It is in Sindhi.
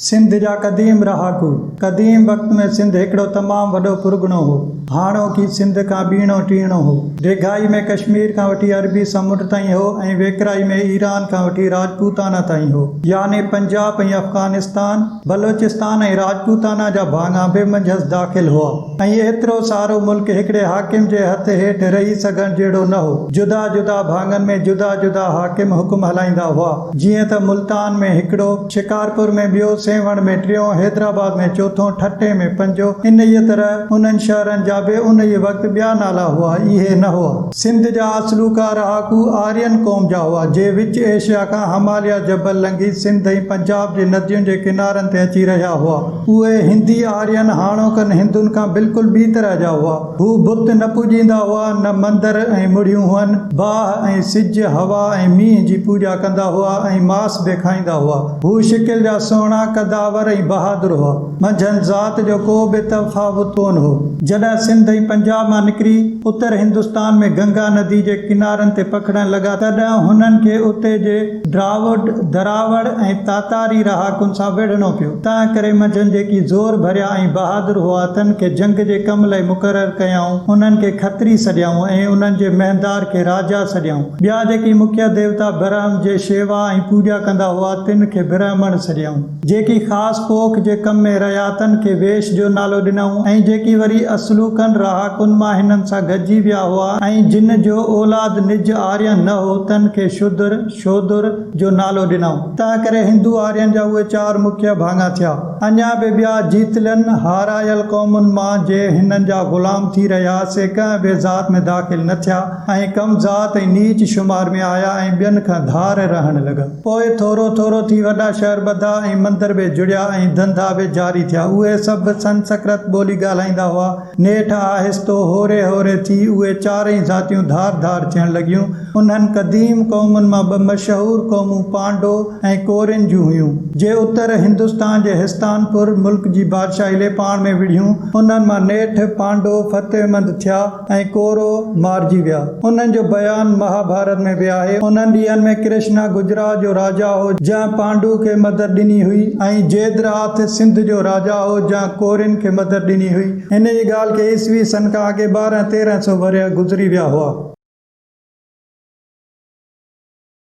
سنڌ جا قديم رهاڪو، قديم وقت ۾ سنڌ هڪڙو تمام وڏو پرڳڻو هو. هاڻوڪي سنڌ کان ٻيڻو ٽيڻو هو. ڊيگهائي ۾ ڪشمير کان وٺي عربي سمنڊ تائين هو ۽ ويڪرائي ۾ ايران کان وٺي راجپوتانا تائين هو. يعني پنجاب ۽ افغانستان، بلوچستان ۽ راجپوتانا جا ڀاڱا به منجهس داخل هئا ۽ ايترو سارو ملڪ هڪڙي حاڪم جي هٿ هيٺ رهي سگهڻ جهڙو نه هو. جدا جدا ڀاڱن ۾ جدا جدا حاڪم حڪم هلائيندا هئا. جيئن ته ملتان ۾ هڪڙو. شڪارپور ۾ ٻيو، سيوهڻ ۾ ٽيون، حيدرآباد ۾ چوٿون، ٺٽي ۾ پنجو، انهيء طرح انهن شهرن جا به انهيء وقت ٻيا نالا هئا، اهي نه هئا. سنڌ جا اصلوڪا رهاڪو آرين قوم جا هئا، جي وچ ايشيا کان هماليه جبل لنگهي سنڌ ۽ پنجاب جي ندين جي ڪنارن تي اچي رهيا هئا. اهي هندي آرين هاڻوڪن هندن کان بلڪل ٻي طرح جا هئا. هو بت نه پوڄيندا هئا، نه مندر ۽ مڙهيون هئن. باهه ۽ سج، هوا ۽ مينهن جي پوڄا ڪندا هئا ۽ ماس به کائيندا هئا. هو شڪل جا سهڻا، قدآور ۽ بهادر هئا. منجهن ذات جو ڪو به تفاوت ڪونه هو. جڏهن سنڌ ۽ پنجاب مان نڪري اتر هندستان ۾ گنگا ندي جي ڪنارن تي پکڙڻ لڳا، تڏهن هنن کي اتي جي ڊراوڊ، دراوڙ ۽ تاتاري رهاڪن سان وڙهڻو پيو، تنهنڪري منجهن جيڪي زور ڀريا ۽ بهادر هئا، تن کي جنگ جي ڪم لئي مقرر ڪيائون، انهن کي کتري سڏيائون ۽ انهن جي مهندار کي راجا سڏيائون. ٻيا جيڪي مکيه ديوتا برهم جي شيوا ۽ پوڄا ڪندا هئا، تن کي برهمڻ سڏيائون. جيڪي خاص پوک جي ڪم ۾ رعياتن کي ويش جو نالو ڏنائون ۽ جيڪي وري اصلوڪن رهاڪن مان هنن سان گڏجي ويا هئا ۽ جن جو اولاد نج آرين نه هو تن کي شودر، Shodhur، جو نالو ڏنائون. تنهن ڪري هندو آرين جا اهي چار مکيه ڀاڱا ٿيا. اڃا به ٻيا جيتلن، هارايل، قومن مان جي هنن جا غلام ٿي رهيا سي ڪنهن به ذات ۾ داخل نه ٿيا ۽ ڪم ذات ۽ نيچ شمار ۾ آيا ۽ ٻين کان ڌار رهڻ لڳا. پوء ٿورو ٿورو ٿي وڏا شهر ٻڌا ۽ مندر به جڙيا ۽ ڌنڌا به جاري ٿيا. اهي سڀ سنسڪرت ٻولي ڳالهائيندا هئا. نيٺ آهستو هوري هوري ٿي اهي چارئي ذاتيون ڌار ڌار ٿيڻ لڳيون. انهن قديم قومن مان ٻه مشهور قومون پانڊو ۽ ڪورين جون هيون، جي اتر هندستان جي هستان پور ملڪ جي بادشاهي لئي پاڻ ۾ وڙهيون. انهن مان نيٺ پانڊو فتحمند ٿيا. ۽ ڪورو مارجي ويا. انهن جو بيان مهاڀارت ۾ به آهي. انهن ڏينهن ۾ ڪرشنا گجرات جو راجا هو، جنهن پانڊو کي مدد ڏني هئي ۽ جيدراٿ سنڌ جو راجا هو، جنهن ڪورين کي مدد ڏني هئي. هن جي ڳالهه کي عيسوي سن کان اڳي ٻارهن تيرهن سو ورهيه گذري ويا هئا.